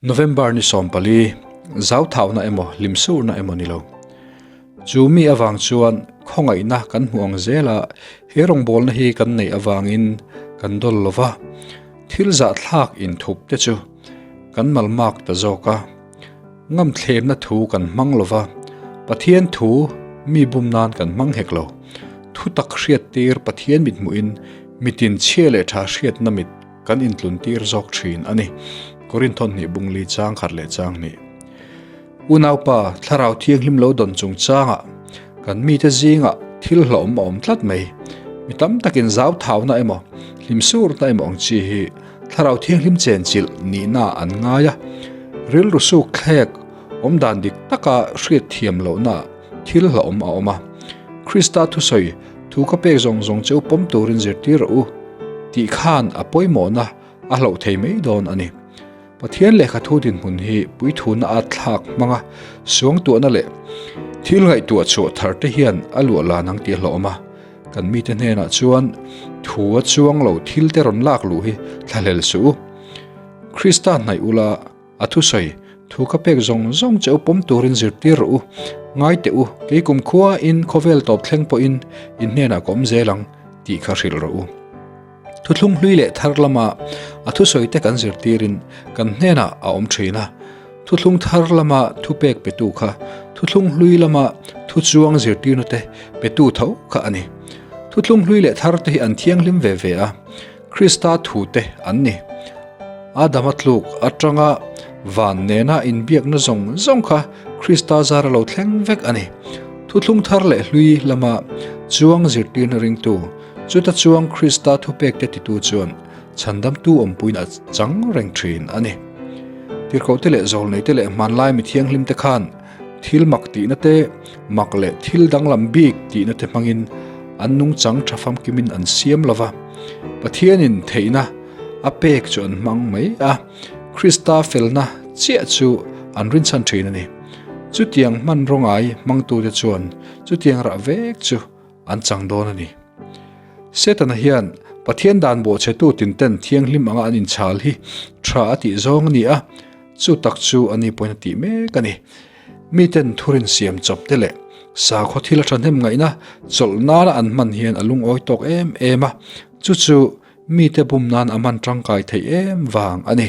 November ni sawm pali, zau thauhna emaw hlim surna emaw ni lo. Chu mi avang chuan khawngaihna kan hmu ang zel a, he rawngbawlna hi kan neih avangin kan dawl lo va, thil zahthlak inthup te chu kan malmak ta zawk a, ngam thlemna thu kan hmang lo va, Pathian thu mi bum nan kan hmang hek lo, thutak hriat tir Pathian mithmuhin mitin chhia leh tha hriatna mit, Kan intluntir zawk thin a ni. Korin thawn hnih bung li chang khat leh chang hnih. Unaupa, Thlarau thianghlim lo dawn chung changah kan mite zingah thil hlawm a awm tlat mai. Mi tam takin zauthauna emaw, hlimsurna emaw ang chi hi Thlarau thianghlim chenchilh nihnaah an ngai a. Rilru suk thlek, awmdan dik taka hriatthiam lohnaah thil hlawm a awm a. Krista thusawi Thu ka pek zawng zawng che u pawm turin zirtir rawh u tih khan a pawimawhna a hloh thei mai dawn a ni. Pathian lehkha thu dinhmun hi puithuhna a thlak hmanga suangtuahna leh thil ngaihtuah chhuah thar te hian a luah lan ang tih a hlawm a. Kan mite hnenah chuan thu a chuang lo thil te rawn lak luh hi thlahlel suh u. Krista hnaih ula. A thusawi, thu ka pek zawng zawng che u pawm turin zirtir rawh u, ngai teh u, kei kum khuain khawvel tawp thleng pawhin in hnenah ka awm zel ang tih kha hrilh rawh u. Thuthlung hlui leh thar lama a thusawi te kan zirtirin kan hnenah a awm thin a, thuthlung thar lama thupek petu kha thuthlung hlui lama thu chuang zirtirnute petu tho kha a ni. Thuthlung hlui leh thar te hi an thianghlim ve ve a. Krista thute an ni. Adama tluk atanga van nena inbiakna zawng zawng kha Krista zar a lo thleng vek a ni. Thuthlung thar leh hlui lama chuang zirtirna ringtu, chuta chuang Krista thupekte titu chuan chhandamtu awmpuiin a chang reng thin a ni. Tirhkohte leh zawlneite leh hmanlai mithianghlimte khan, Thil mak tihna te, mak leh thil danglam bik tihna te hmangin an nungchang tha famkimin an siam lo va. Pathianin theihna a pek chu an hmang mai a, Krista felna chiah chu an rinchhan thin a ni. Chutiang hmanraw ngai hmangtute chuan chutiang rah vek chu an chang dawn a ni. Setana hian Pathian dan bawhchetu tinten thianghlim anga an inchhal hi tha a tih zawng a ni a, chu tak chu a ni pawhin a tih mek a ni. Miten thurin siam chawpte leh sakhaw thil a thahnem ngaihna chawlh nana an hman hian a lungawi tawk em em a, chu chu mite bum nan a hman tangkai theih em vang a ni.